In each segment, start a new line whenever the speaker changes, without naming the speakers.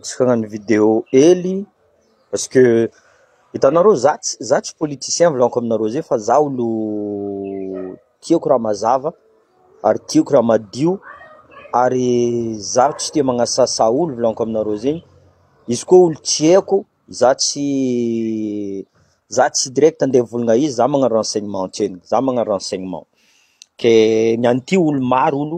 Distrana ny video hely parce que hitanareo za tsy za tsy politicien volaniko aminareo zay fa za olo tiako raha mazava ary tiako raha madio ary za tsy tia magnasasa olo volaniko aminareo zegny izy koa olo tsy haiko za tsy za tsy direct andeha hivolagna izy za magnano renseignement antsena za magnano renseignement ke ny an'ity olo maro olo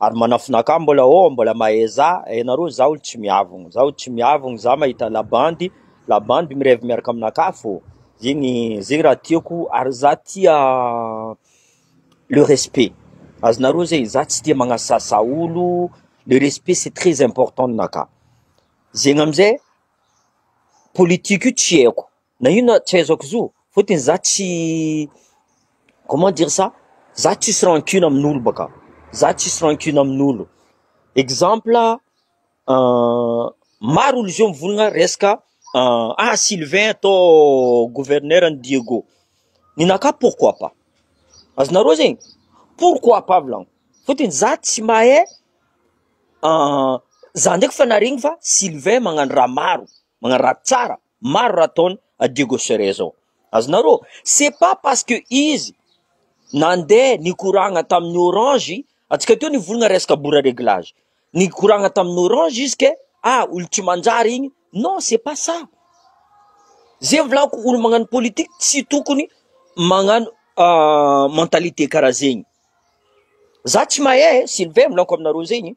ary manafina ka mbola oo mbola maheza ianareo zaho tsy miavogno zaho tsy miavogno za mahita labandy labandy mirevy miaraka amina kafo zegny zegny raha tiako ary za tia le respect azonareo zegny za tsy tia magnasasa olo le respect c'est très important aminakahy zegny amizay politique io tsy aiko Na inona tsy ahaizako zo, fotony za tsy comment dire ça, za tsisy rancune amin'olo baka, za tsisy rancune amin'olo, exemple maro olo zao mivonona resaka ah Sylvain atao gouverneur an'i Diego, ninakahy pourquoi pas, azonareo zegny, pourquoi pas volagno, fotony za tsy mahay za ndraiky fa naharegny fa Sylvain magnano raha maro, magnano raha tsara. Maro raha ataony a Diego Sure zao. Azonareo? C'est pas parce que izy nandeha nikoragna tamin'ny orange, antsika teo nivolagna resaka bora reglage, nikoragna tamin'ny orange izy ke ah olo tsy manjary igny, non c'est pas ça. Ze volako olo magnano politique tsy tokony magnano mentalité karaha zegny. Za tsy mahay e, Sylvain volako aminareo zegny,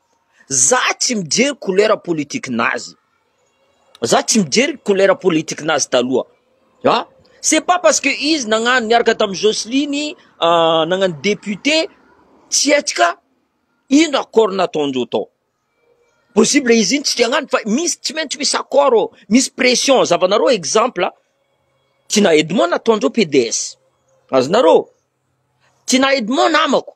Za tsy mijery couleur politique nazy, za tsy mijery couleur politique nazy taloha an, c'est pas parce que izy nagnano niaraka tamin'i Jocelyne nagnano député tsy hetsika, ino accord nataondreo tao? possible izy iny tsy te hagnano fa misy tsy maintsy misy accord ô, misy pression, zavanareo exemple Tinah Edmond nataondreo PDS, azonareo ô, Tinah Edmond namako.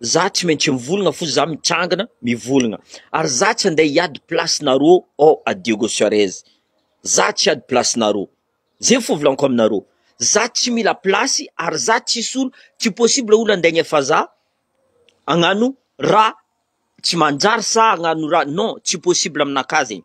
za tsy maintsy mivolagna fo za mitsangana mivolagna ary za tsy ande hiady place nareo ao à Diego Suarez za tsy hiady place nareo ze fovolanko aminareo za tsy mila place ary za tsisy olo tsy possible olo ande agnefa za agnano raha tsy manjary sa agnano raha non tsy possible aminakahy zegny.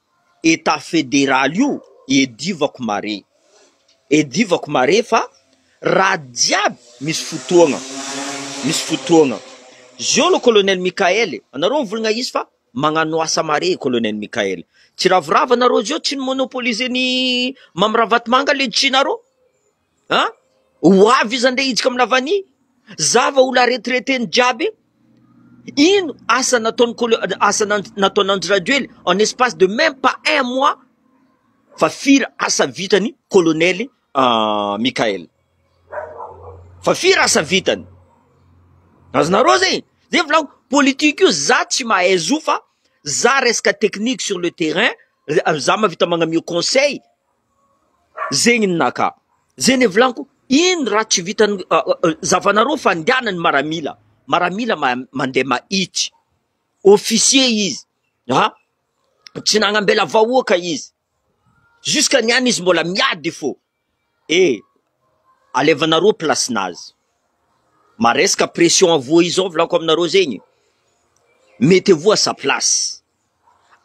Etat federal io edivako mare edivako mare fa raha jiaby misy fotoagna misy fotoagna zio lo colonel Mickael e anareo mivolagna izy fa magnano asa mare colonel Mickael tsy ravoravo anareo zio tsy ni monopoliser ny mamy ravatomanga le jina rô An! Ho avy iza ndray hiditra amina vani? Za va olona retraiteny jiaby? Ino asa nataony kolo asa nataon'Andry Rajoely en espace de même pas un mois fa firy asa vitany kolonely Mickaël? Fa firy asa vitany? Azonareo zegny? Zegny volako politique io za tsy mahay zo fa za resaka technique sur le terrain za mahavita magnamio conseil Zegny ny naka, zegny le volaniko, ino raha tsy vitan'ny zavanareo fandehanan'ny maramila, maramila mandeha mahitsy, officier izy ha, tsy nagnambela vahoaka izy, jusque niany izy mbola miady fô, eh alevanareo place-nazy, maresaka pression avoa izao volako aminareo zegny, mettez-vous à sa place.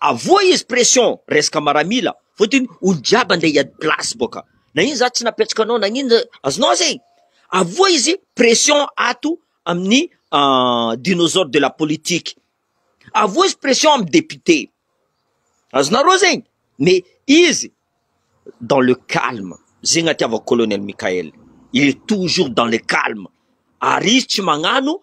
Avohy izy pression resaka maramila fotiny olo jiaby ande hiady place boka na ino za tsy napetraka anao nagnino aznao zegny avohy izy pression ato aminy dinosaure de la politique avohy izy pression amy député azonareo zegny me izy dans le calme zegny atiavako colonel Mickaël il est toujours dans le calme ary izy tsy magnano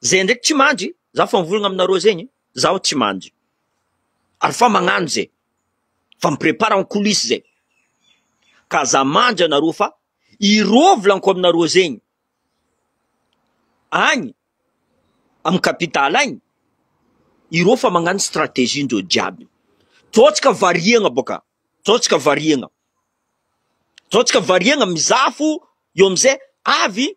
Zay ndraiky tsy mandry, za fa mivolagna aminareo zegny, zaho tsy mandry, ary fa magnano ze, fa mi prepare en coulisse ze, ka aza mandry anareo fa irô volaniko aminareo zegny, agny amy capital agny, irô fa magnano strategie ndreo jiaby, tô tsika variagna boka, tô tsika variagna, tô tsika variagna mizaha fo eo amizay avy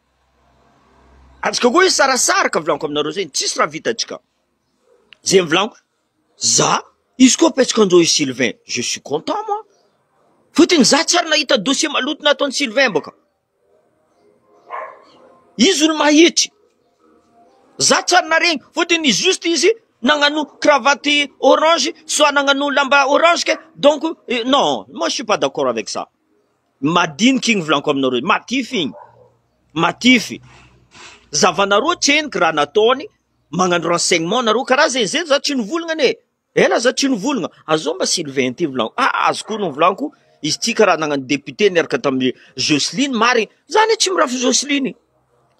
Antsika koa hisarasaraka volaniko aminareo zay tsisy raha vitantsika zay volaniko za izy koa apetsiko anjao i Sylvain je suis content moi fotony za tsy ary nahita dossier maloto nataony Sylvain baka izy olo mahitry za tsy ary naregny fotony juste izy nagnano cravate orange soit nagnano lamba orange ke donc non moi je suis pas d'accord avec ça Madinika igny volaniko aminareo igny, matify igny, matify, zavanareo tsy henoko raha nataony, magnano renseignement nareo, karaha zay, zay za tsy nivolagna anie, ela za tsy nivolagna, azao mba Sylvain ty volaniko, ah azy koa no volaniko, izy ty karaha nagnano député niaraka tamy Jocelyne marigny, za anie tsy mirafy Jocelyne e,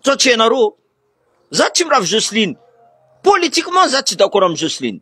sao tsy hainareo ô, za tsy mirafy Jocelyne, politiquement za tsy d'accord amy Jocelyne.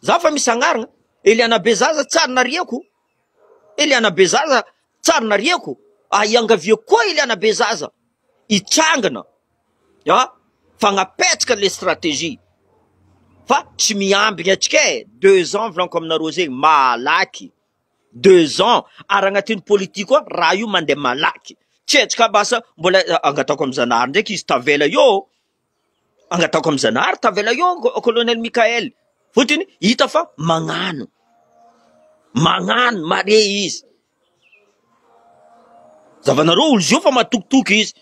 Za fa misy agnarana Eliana Bezaza tsy ary nariako Eliana Bezaza tsy ary nariako ah iangaviako koa Eliana Bezaza hitrangana ah fagnapetraka le stratégie fa tsy miambigny atsika e deux ans volaniko aminareo zay malaky deux ans ary agnatin'ny politique koa raha io mandeha malaky tsy atsika basa mbola angatahiko amy Zanahary ndraiky izy tavela eo Angataoko amin'izany ary tavela eo Colonel Mickaël fotony hita fa mañano mañano mare izy zavanareo olo zio fa matokitoky izy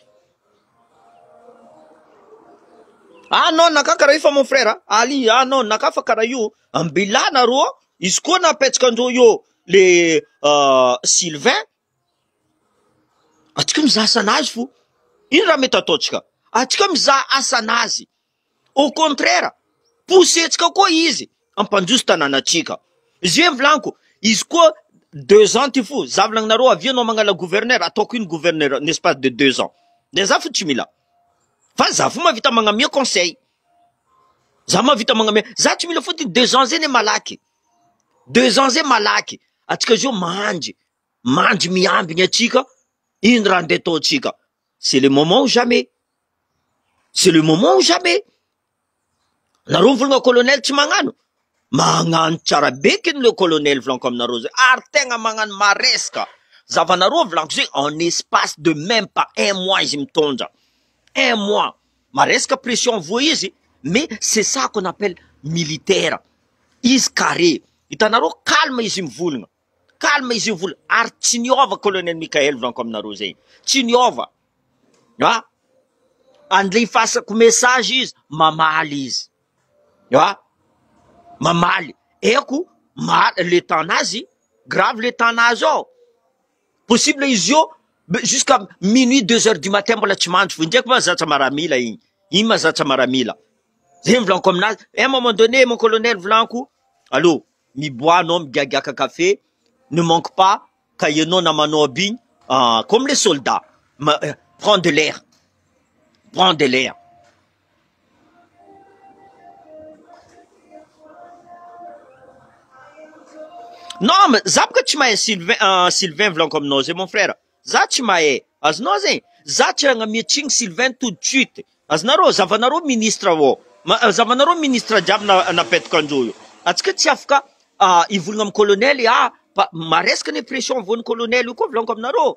ah non naka karaha io fa mon frère ali ah non naka fa karaha io ambilà nareo izy koa napetsaka andreo eo le euh, Sylvain Antsika mizaha asan'azy fo, ino raha mety ataontsika? Antsika mizaha asan'azy, au contraire poussentsika koa izy hampandroso tanànantsika, izay volaniko, izy koa deux ans ty fo, za volagny nareo avia anao magnala gouverneur, ataoko ino gouverneur en espace de deux ans? De za fo tsy mila, fa za fo mahavita magnome conseil, za mahavita magnome, za tsy mila fo ty deux ans zay ne malaky. deux ans zay malaky, antsika zao mandry, mandry miambiny antsika, ino raha ndeha ataontsika, c'est le moment ou jamais, c'est le moment ou jamais, nareo mivolagna colonel tsy magnano, magnano tsara be kny le colonel volaniko aminareo zay, ary tegna magnano maresaka, zavanareo volaniko zay en espace de meme pas un mois izy mitondra, un mois, Maresaka pression avoa izy mais c'est ça qu'on appelle militaire. Izy carré. Hitanareo calme izy mivolgna. Calme izy mivolgna ary tsy niova Colonel Mickael volaniko aminareo zay. Tsy niova. Ha? Andlefasako message izy mamaly izy. Ha? Mamaly. Eko, mal le temps nazy, grave le temps nazy ao. Possible izy io jusqu'à minuit deux heures du matin mbola tsy mandry, indray koa zatra maramila iny, iny ma zatra maramila, zay ny volaniko amin'azy, à un moment donné mon colonel volaniko allo miboaha anao migiagiaka café, ne manque pas ka ianao namanao aby iny comme les soldats prends de l'air, prends de l'air. Non mais za boka tsy mahay Sylvain euh, Sylvain voulant comme non zay mon frère za tsy mahay azonao zegny za tsy ragnamiatsigny Sylvain tout de suite azonareo zavanareo ministre ô ma zavanareo ministre jiaby na napetaka anjô io antsika tsy afaka ah, hivolagna am colonel ah pa- maresaka anie pression voan'ny colonel io koa voulant comme nareo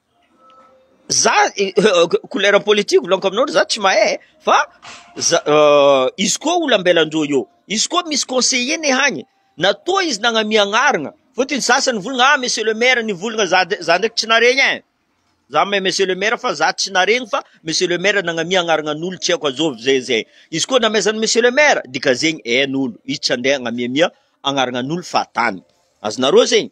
za couleur politique volonko aminao za tsy mahay fa za izy koa ola ambelan'ireo eo izy koa misy conseiller ne hagny na toa izy nagnamia agnarana fotony sasany volana ah monsieur le maire ny volana za de za ndraiky tsy naharegny e za mahay monsieur le maire fa za tsy naharegny fa monsieur le maire nagnamia agnarana an'olo tsy haiko azôvy zay zay izy koa namezany monsieur le maire dika zegny hain'olo izy tsy handeha hagnamiamia agnarana an'olo fahatany azonareo zegny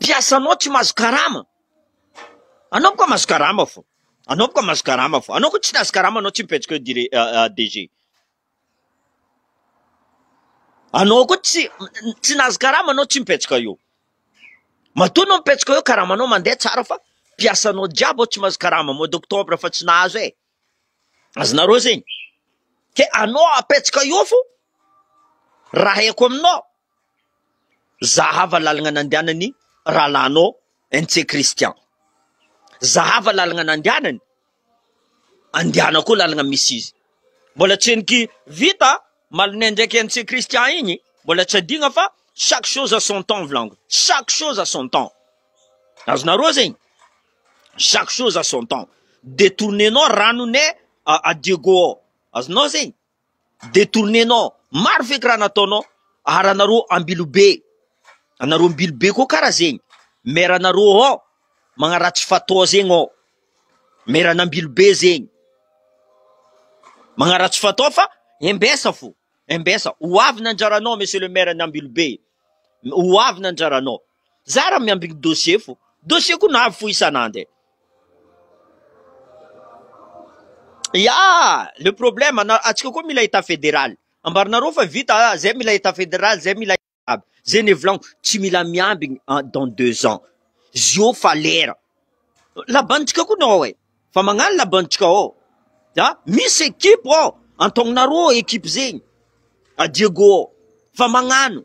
Mpiasanao tsy mahazo karama. Anao ko mahazo karama fô. Anao ko mahazo karama fô. Anao ko tsy nahazo karama anao tsy mipetrak eo dire- DG. Anao ko tsy tsy nahazo karama anao tsy mipetraka eo. Matoa anao mipetraka eo karamanao mandeha tsara fa mpiasanao jiaby ao tsy mahazo karama mois d'octobre fa tsy nahazo e. Azonareo zegny ke anao apetsaka eo fo raha haiko aminao zahava lalagna nandianany rahalahinao NC Christian zahava lalagna nandianany andiana koa lalagna misy izy mbola tsy heniky vita malonay ndraiky NC Christian igny mbola tsy adigna fa chaque chose à son temps volagno chaque chose à son temps azonareo zegny Chaque chose à son temps detourner-nao ranone à Diego ao azonao zegny detourner-nao maro feky raha nataonao ary anareo ambilobe anareo ambilobe koa kara zegny maire anareo ao magnaratsy fatao zegny ao maire an'ambilobe zegny magnaratsy fatao fa embesa fo embesa ho avy ny anjaranao monsieur le maire an'ambilobe ho avy ny anjaranao Zara miambigny ny dossier fo. Dossier ko navy fo isan'and e. Ya! Le problème ana atsika koa mila état fédéral. Ambarinareo fa vita a, zay mila état fédéral, zay mila aby. Zay ne volagniko, tsy mila miambigny en dans deux ans. Zio fa lera. Laban-tsika ko nao e. Fa magnano laban-tsika ao. A! Misy équipe ao. Antognonareo équipe zegny. A Diego ao. Fa magnano.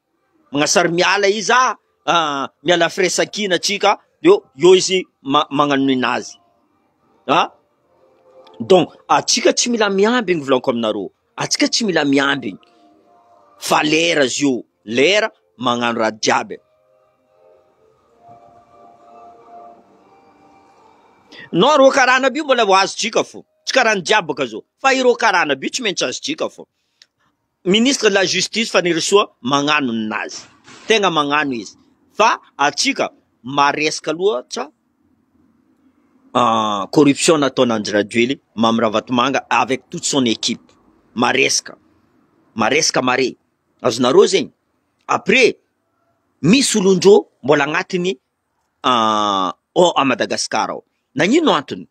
Magnasary miala izy ah, ah, miala firesakina tsika, eo, eo izy ma, magnanonina azy. Ah, donc atsika tsy mila miambigny volako aminareo, atsika tsy mila miambigny fa lera zio, lera magnano raha jiaby. Non reo karana aby io mbola ho azotsika fo, tsy karana jiaby bôka zao, fa ireo karana aby io tsy maintsy azotsika fo. Ministre de la justice Fanirisoa magnano ny nazy, tegna magnano izy fa antsika maresaka loatra corruption nataon Andry Rajoely Mamy Ravatomanga avec toute son equipe, maresaka, maresaka mare, azonareo zegny, après misy olondrô mbola agnatiny ao Madagascar ao, nagnino antony?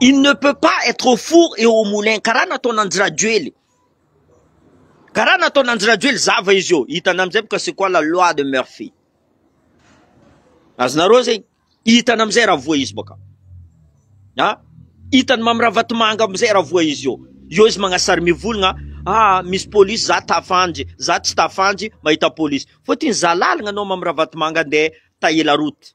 Il ne peut pas être au four et au moulin, karaha nataon' Andry Rajoely, karaha nataon' Andry Rajoely zava izy io, hitanao amizay bôka c'est quoi la loi de Murphy, azonareo zegny, hitany amizay raha voa izy bôka an, hitany Mamy Ravatomanga amizay raha voa izy io, eo izy magnasary mivolagna ah misy polisy za tafandry, za tsy tafandry mahita polisy, fôtiny za lalagna anao Mamy Ravatomanga ndeha tailler la route.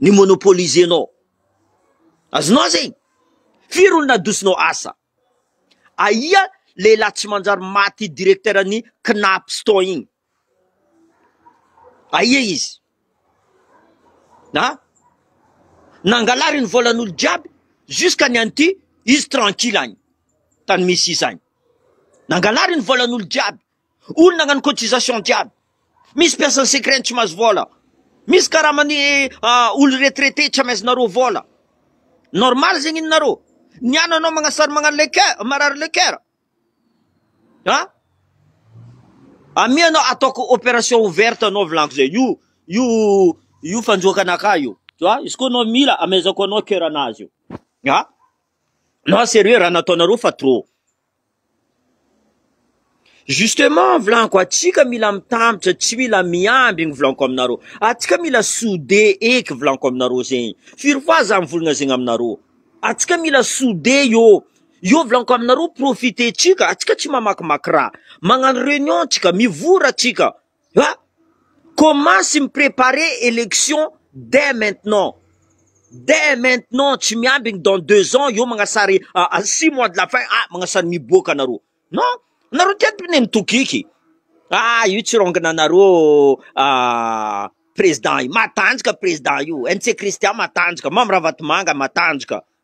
ny monopoliser nao. Azonao zegny? Firy olo nadosonao asa? Aia lehilahy tsy manjary maty directeur ny Cnaps tao igny? Aia izy? A? Nangalary ny volan'olo jiaby jusqu'à ny an'ity izy tranquille agny tany misy izy agny. Nangalary ny volan'olo jiaby. Olo nagnano cotisation jiaby. Misy mpiasan'ny secret tsy mahazo vola. Misy karaman'ny olo retraité tsy amezanareo vola. Normal zegny ninareo. Ny an anao magnasary magnano le coeur, marary le coeur. An? Amia anao ataoko opération ouverte anao volagniko zay. Io io io fanjoaka anakah io. Tu vois? Izy koa anao mila amezako anao coeur anazy io. An? Non serieux raha nataonareo fa trop. Justement mivolanko atsika mila mitambitra tsy mila miandry igny volanko aminareo atsika mila sode eky volanko aminareo zegny firy fois za mivolagna zegny aminareo atsika mila sode io io volanko aminareo profite tsika atsika tsy mamakimaky raha magnano reunion tsika mivory atsika Ah! Commence mi preparer election dès maintenant, dès maintenant tsy miambigny dans deux ans eo magnasary à six mois de la fin ah magnasary miboaka nareo non nareo ty ato ne mitokiky ah io tsy rongina anareo ah président io matanjaka président io NC Christian matanjaka Mamy Ravatomanga matanjaka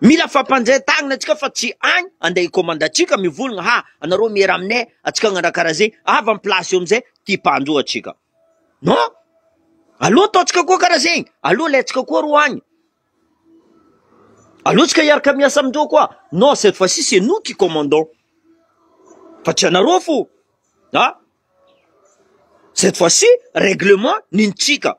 Mila fampandre tagnina atsika fa tsy agny ande hikômanda atsika mivolagna ha anareo miera aminay atsika agnarah karaha zegny avy am place eo amizay ty mpandro atsika non aleo ataotsika koa karaha zegny aleo alaitsika koa ro agny aleo tsika hiaraka miasa amindreo koa non cette fois ci c'est nous qui commandons fa tsy anareo fô a cette fois ci règlement nino tsika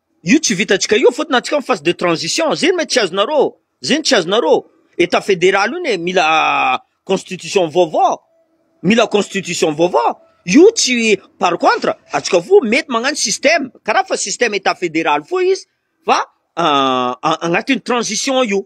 Io tsy vitantsika io fotony antsika en phase de transition zegny me tsy azonareo zegny tsy azonareo etat federal io ne mila constitution vaovao mila constitution vaovao io tsy par contre antsika fo mety magnano système karaha fa système etat federal fo izy fa agnatin'ny transition io.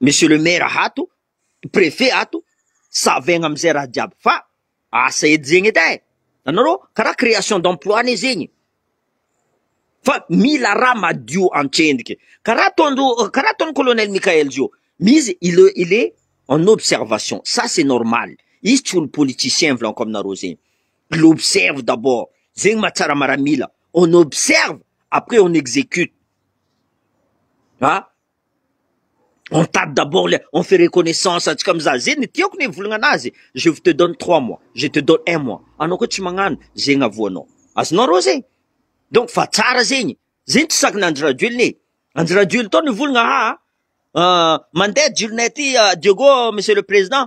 Monsieur le maire ato, prefet ato, savegna amizay raha jiaby fa asa edy zegny edy e! Anareo kara creation d'emploi anie zegny fa mila raha madio antsendriky kara ataondreo kara ataon'i colonel Mickaël zio izy il est il est en observation ça c'est normal izy tsy olo politicien volaniko aminareo zegny il observe d'abord zegny mahatsara maramila on observe après on execute a! On tarde d'abord le on fait reconnaissance antsika mizaha ze ny tiako ny hivolagna anazy je vous te donne trois mois je te donne un mois anao koa tsy magnano zegny avoanao azonao arô zegny donc fa tsara zegny zegny tsy sakana Andry Rajoelina e Andry Rajoelina tô nivolagna haa mandeha jiro nay ty Diego monsieur le président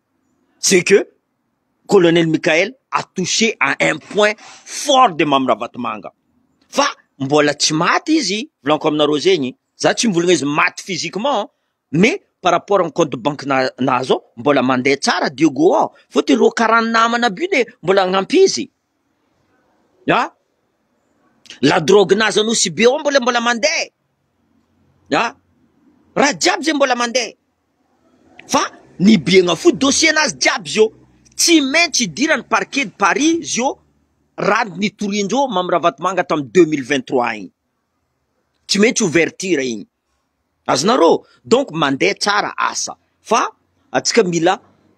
c'est que colonel Mickael a touche à un point fort de Mamy Ravatomanga fa mbola tsy maty izy, volaniko aminareo zegny, za tsy mivôlagna izy maty physiquement mais par rapport amin'ny compte de banque na- nahazo ao mbola mande tsara Dieugo ao, fôtony reo karaha namana aby io le mbola agnampy izy an! la drogue nahazo an'Nosy Be ao mbola mbola mande an! raha jiaby zegny mbola mande, Fa ny biegna fohy dossier nazy jiaby zio tsy maintsy idiran'ny parquet de Paris zio raha ny nitoriandreo Mamy Ravatomanga tamin'ny deux mille vingt trois iny. Tsy maintsy ouverture iny. Azonareo? Donc mandeha tsara asa fa antsika mila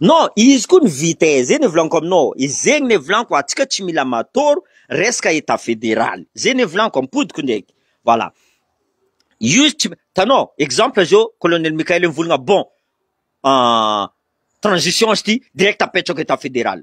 Non izy koa ny vitesse zay ny volagno aminao e, zegny ny volagno atsika tsy mila matoro resaka etat federal zay ny volagno ampodiko ndreky voilà io izy tsy hitanao exemple zao colonel Mickael mivolagna bon transition izy ty direct apetrako etat federal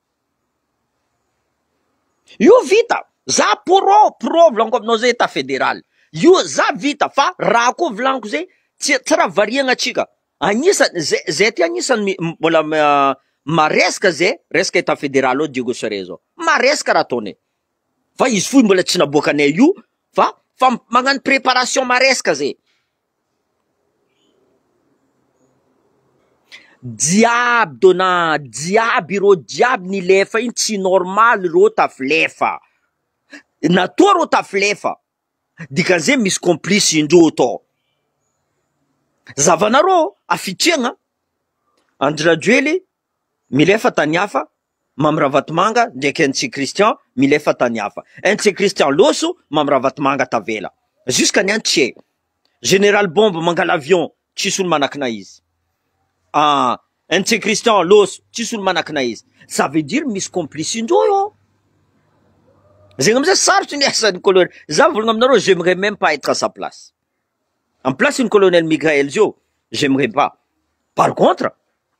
Io vita za pro pro volaniko aminao zay etat federal io za vita fa raha koa volaniko zay tsy tsy raha variagna atsika agnisany zay zay ty agnisany mi- m- mbola m- ah, maresaka zay resaka etat federal ao Diego Soria zao maresaka raha ataonay fa izy fohy mbola tsy naboakanay io fa fa magnano preparation maresaka zay Jiaby dona jiaby ireo jiaby nilefa iny tsy normal ireo tafilefa, natoa ireo tafilefa dikan'izay misy complice indreo tao, zavanareo hafitriagna Andry Rajoely milefa tany hafa. Mamy Ravatomanga ndraiky NC Christian milefa tany hafa. NC Christian loso, Mamy Ravatomanga tavela. Jusqu'à ny NC. Général Bombe mangala avion, tsisy olo manakina izy. Ah, NC Christian loso, tsisy olo manakina izy. Ça veut dire misy complice-ndreo eo. Zegny amizay sarotry ny asan'ny colonel. Za mivolagna aminareo, j'aimerais même pas être à sa place. Am place-n'i colonel Mickaël zio, j'aimerais pas. Par contre,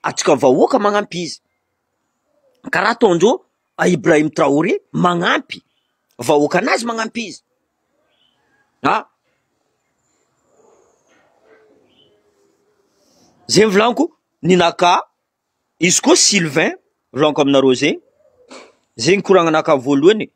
antsika vahoaka magnampi izy. karaha ataon'ireo Ibrahim Traoré manampy vahoakan'azy manampy izy a! zay ny volaniko ny naka izy koa Sylvain volaniko aminareo zay, zay ny koragna naka voalohany e!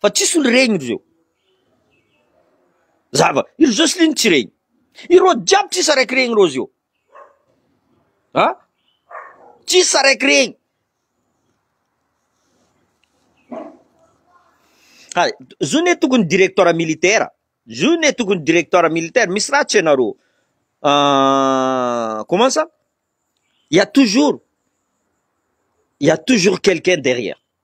Fa tsisy olo regny reo zava i joseline tsy regny ireo jiaby tsisy araiky regny reo zeo a tsisy araiky regny hay zo ne tokony directeur militaire zo ne tokony directeur militaire misy raha tsy anareo Ah, comment ça il y a toujours il y a toujours quelqu'un derrière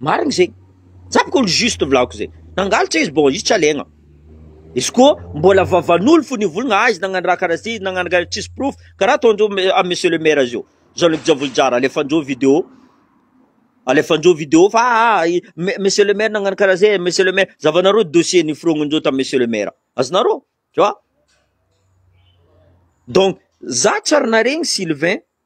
Marigny zegny, tsapako olo juste volako zegny, nangalatra izy bon izy tsy alegna, izy koa mbola vavan'olo fo nivolagna ah izy nagnano raha karaha ty, nagnano karaha ty, tsisy porofo, karaha ataondreo am monsieur le maire zio, zao ndraiky Javoly Jara alefandreo video, alefandreo video fa ah monsieur le maire nagnano karaha ze, monsieur le maire, zahavanareo dossier niforognindreo tam monsieur le maire, azonareo, tu vois, donc za tsy ary naregny Sylvain.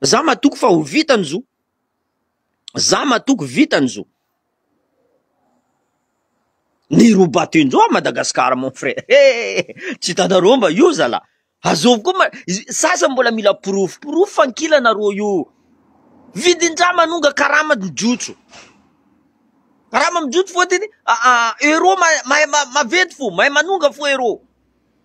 Za matoky fa ho vita ny zo. Za matoky vita ny zo. Ny roba tendro à Madagascar mon frère eh tsy hitanareo mba io zala azovy koa ma sasany mbola mila porofo porofo fa ankilana ro io vidin-draha manonga karama ny jotso karama mijotso fotiny euro mahay maventy fo mahay manonga fo euro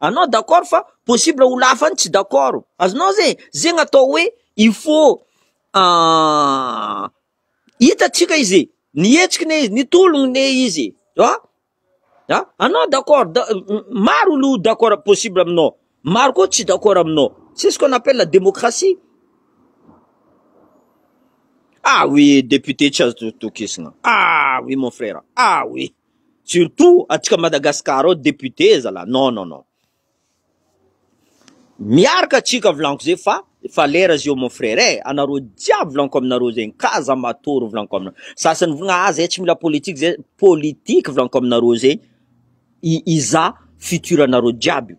Anao d'accord fa possible olo hafa any tsy d'accord. Azonao zay? Zegny atao hoe il faut hitatsika izy e! Nihetsiky ne izy, nitologno ne izy e! A! A! Anao d'accord, da- maro olo d'accord possible aminao, maro koa tsy d'accord aminao, c'est ce qu'on appelle la démocratie. Ah oui, député tsy azo tokisagna, ah oui mon frère, ah oui. Surtout atsika Madagascar ao député zala non non non miarka atsika volanko zay fa efa lera zio mon frère eh anareo jiaby volanko aminareo zay ka za matory volanko aminareo sasany vogna ah zay tsy mila politique zay politique volanko aminareo zay i iza futur anareo jiaby io.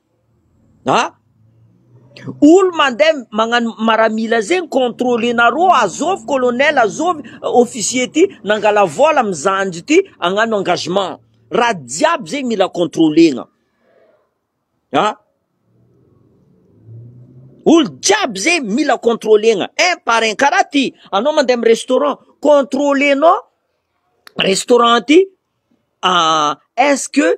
A! Olo mandeha magnano maramila zegny controlenareo azôvy colonel azôvy officier ty nangala vôla amy zandry ty agnano engagement, raha jiaby zegny mila controlegna a! Olo jiaby zegny mila controlegna un par un, karaha ty anao mandeha amy restaurant controlenao restaurant ty est-ce que.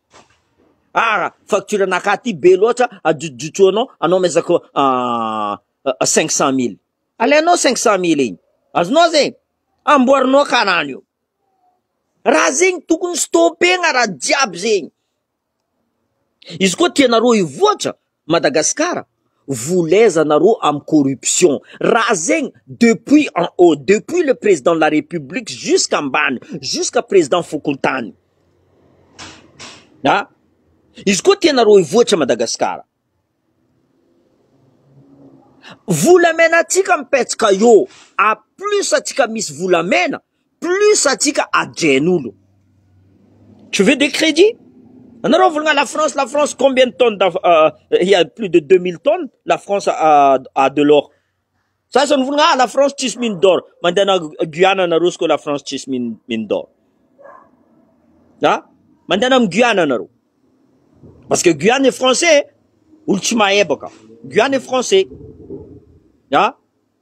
Aah! Facture anakahy ty be loatra adrotsodrotsoanao anao miezaka cinq cent mille. Alainao cinq cent mille iny azonao zegny amboarinao karana io. Raha zegny tokony stopegna raha jiaby zegny. Izy koa tianareo hivoatra Madagascar volezana rô am corruption raha zegny depuis en haut depuis le président de la république jusqu'à ambany jusqu'à président fokontany a izy koa tianareo hivoatra Madagascar volamena antsika mipetsaka eo à plus antsika misy volamena Plus atsika adren'olo. Tu veux des credits? Anareo volagna la France la France combien de tonnes il ya plus de deux mille tonnes la France a de l'or. Sasany volagna ah la France tsisy mine d'or mandehana Guyana anareo izy koa la France tsisy mine mine d'or. Ah mandehana am Guyana anareo. Parce que Guyana est français olo tsy mahay baka. Guyana est français. Ah.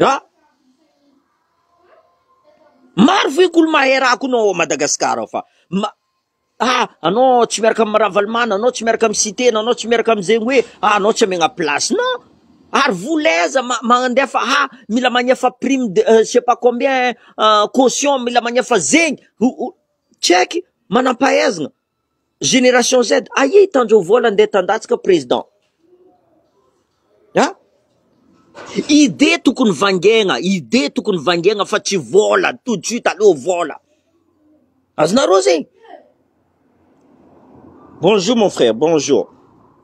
An! Maro ve ko mahay rà ko nao Madagascar ao fa ma ah anao tsy miaraka am Ravalomanana anao tsy miaraka am Siteny anao tsy miaraka amzegny hoe ah anao tsy amegna place non ary vola aiza ma mandefa ha mila magnefa prime de je sais pas combien caution mila magnefa zegny ho ho tsy aiky manampahaizana Génération Z, aia i Tanjo Vola ndeha tandatsika président a? Idée tokony vangaigna, idée tokony vangaigna fa tsy vola, tout de suite aleo vola. Azonareo zegny? Bonjour mon frère, bonjour.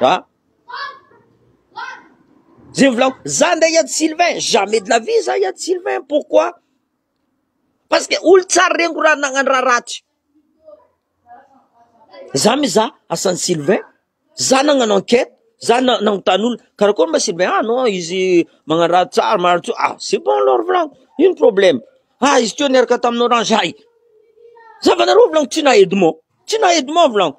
Ah! Zay volako, za ndray Yad Sylvain, jamais de la vie za Yad Sylvain, pourquoi? Parce que olo tsara reniko raha nagnano raha ratsy. Za mizaha asan'i Sylvain, za nagnano enquête, za na- nagnontany olona, karakory ma Sylvain? Ah non, izy magnano raha tsara, magnano tsara. Ah, c'est bon alors volako, ino problème? Ah, izy teo niaraka tamin'i Orange, hay! Zavanareo volako, tsy na Edmond, tsy na Edmond volako.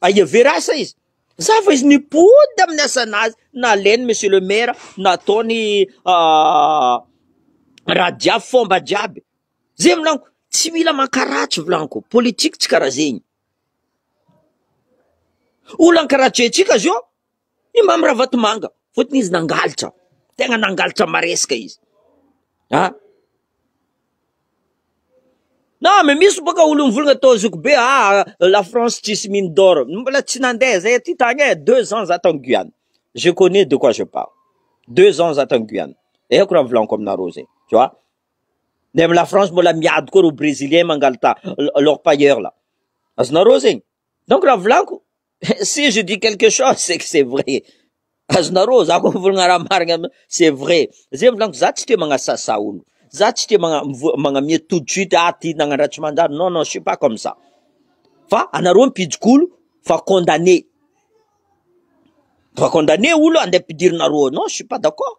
Aia very asa izy? Za fa izy nipody amin'ny asanazy nalainy monsieur le maire nataony radia fomba jiaby zay volaniko tsy mila mankaratsy volaniko politique tsy karaha zegny olan-karatsy haintsika zao I Mamy Ravatomanga, fotony izy nangalitra, tegna nangalitra maresaka izy ah, na me misy baka olo mivolagna tao zoky be ah la France tsisy mine d'or, mbola tsy nandeha zay aty tagny e, deux ans za tagny Guyane, je connais de quoi je parle, deux ans za tagny Guyane, haiko raha volagniko aminareo zegny, tu vois, ny amy la France mbola miady koa reo Brezilien mangalita l'orpailleur là, azonareo zegny, donc raha volagniko. Si je dis quelque chose c'est que c'est vrai azonareo za ko mivolagna raha marigna c'est vrai ze mivolanko za tsy tia magnasasa olo za tsy tia magna- mivo- magnamia tout de suite ah ty nagnandraha tsy manjary non non je suis pas comme ça fa anareo mpijik'olo fa condamné fa condamné olo andeha ampidirinareo ao non je suis pas d'accord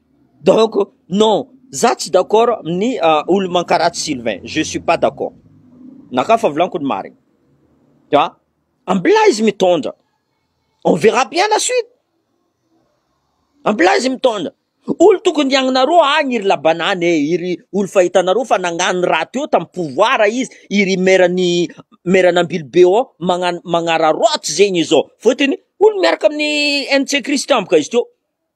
Donc non, za tsy d'accord amin'ny olo mankaratsy Sylvain, je suis pas d'accord, na ka fa volako ny marina, fa ambilà izy mitondra, on verra bien la suite, ambilà izy mitondra, olo tokony hiagnanareo agny i ry Labanany e, i ry olo fa hitanareo fa nagnano raha teo tam pouvoir izy, i ry mairan'i mairan'Ambilobe ao magnano magnararaoty zegny izao, fôtony olo miaraka amin'ny NC Christian boka izy teo.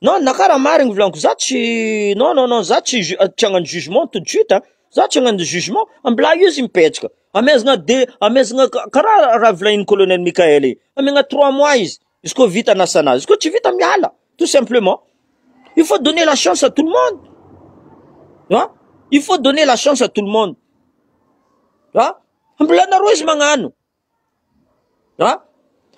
Non na kara marigny ny volanko za tsy non non non za tsy ju- tsy hagnano jugement tout de suite a za tsy hagnano jugement mbola io izy mipetraka amezana de- amezana ka- karaha raha volanin'i colonel Mickaël igny amegna trois mois izy izy koa vita anasana azy izy koa tsy vita miala tout simplement il faut donner la chance à tout le monde an il faut donner la chance à tout le monde an mbola nareo izy magnano An?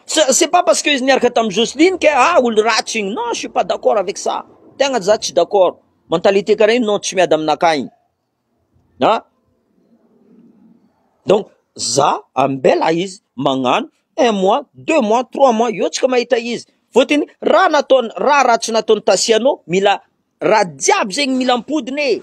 C'est c'est pas parce que izy niaraka tamin'i Jocelyne que ah olo ratsy igny. Non, je suis pas d'accord avec ça. Tegna za tsy d'accord. Mentalité karaha igny non tsy miady aminakahy igny. An? Donc za ambela izy magnano un mois, deux mois, trois mois eo tsika mahita izy. Fôtony raha nataony raha ratsy nataon'i Tasiano mila raha jiaby zegny mila ampodiny e.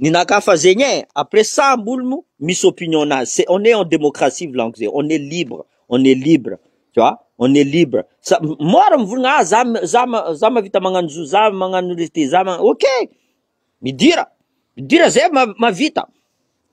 Ny naka fa zegny eh! Après ça mbol mo misy opinion nazy c'est on est en démocratie volagniko zay on est libre on est libre tu vois on est libre sa mora mivolagna ah za za za mavita magnano zo za magnano rite za ma ok midira midira zay ma mavita.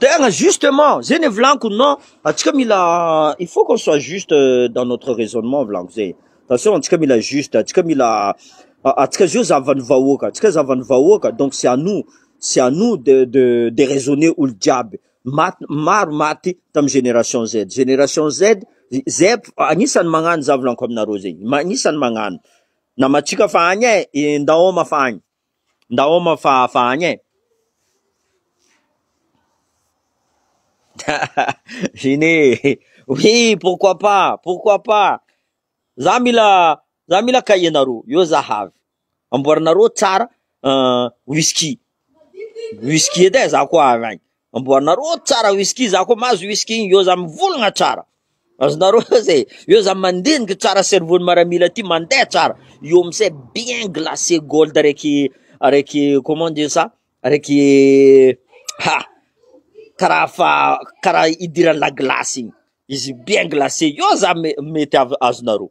Tegna justement zegny e volagniky non, antsika mila il faut qu'on soit juste dans notre raisonnement volagniky zay, attention antsika mila juste, antsika mila antsika zao zavan'ny vahoaka, antsika zavan'ny vahoaka donc c'est à nous, c'est à nous de de de raisonner olo jiaby, maty maro maty tamin'ny génération Z, génération Z zep agnisany magnano za volagniky aminareo zegny, agnisany magnano, namantsika fa agny e, ndao homa fa agny. Ndao homa fa hafa agny e! Gene, oui pourquoi pas, pourquoi pas! Za mila za mila cahier nareo, eo za havy. Amboarinareo tsara whisky, whisky edy e za koa avy agny. Amboarinareo ao tsara whisky za koa mahazo whisky io za mivolagna tsara azonareo oz e io za mandiniky tsara cerveau ny maramila ty mandeha tsara io amizay bien glacé gold araiky araiky comment on dit ça araiky ha kara fa kara idiran'ny la glace igny izy bien glacé io za me- mety av- azonareo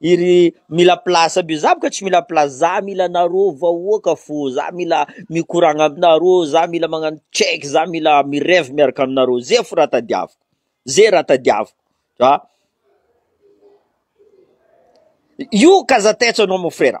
Iry mila place aby za boka tsy mila place za mila anareo vahoaka fô za mila mikoragna aminareo za mila magnano check za mila mi reve miaraka aminareo ze fo raha tadiaviko ze raha tadiaviko za io kazatets anao mon frera.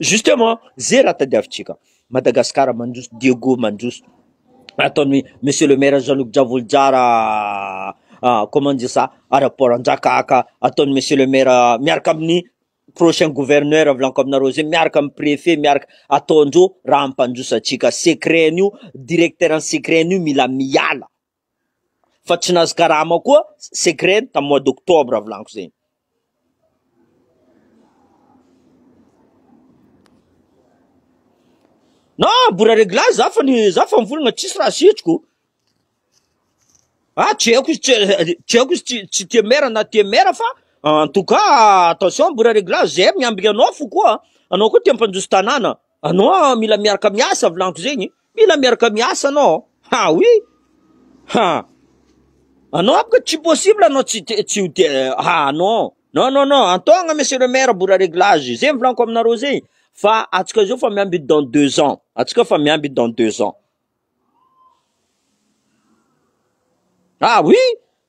Justement, zay raha tadiavintsika, Madagascar mandroso, Diego mandroso, ataon'i Monsieur le Maire Jean Luc Dravolojara comment dire ça, aéroport Andrakaka, ataon'i Monsieur le Maire miaraka amin'ny prochain Gouverneur avlaniko aminareo zay, miaraka amin'ny Prefet, miaraka, ataondreo raha hampandroso antsika, secret an'io, Directeur ny secret an'io mila miala. fa tsy nahazo karama koa secret tamin'ny mois d'octobre volaniko zegny na mbola reglage za fa ny za fa mivolagna tsisy raha asitriko ah tsy haiko izy tsy tsy haiko izy tsy tsy tia mera na tia mera fa en tout cas attention mbola reglage zay miambigna anao fo koa anao koa tia mpandroso tanàna Anao mila miaraka miasa volagniky zegny mila miaraka miasa anao ha oui ha anao baka tsy possible anao tsy tsy ho te ha non non non non antôgna monsieur le maire bora réglage zegny volaniko aminareo zegny fa atsika zao fa miamby dans deux ans atsika fa miamby dans deux ans ha oui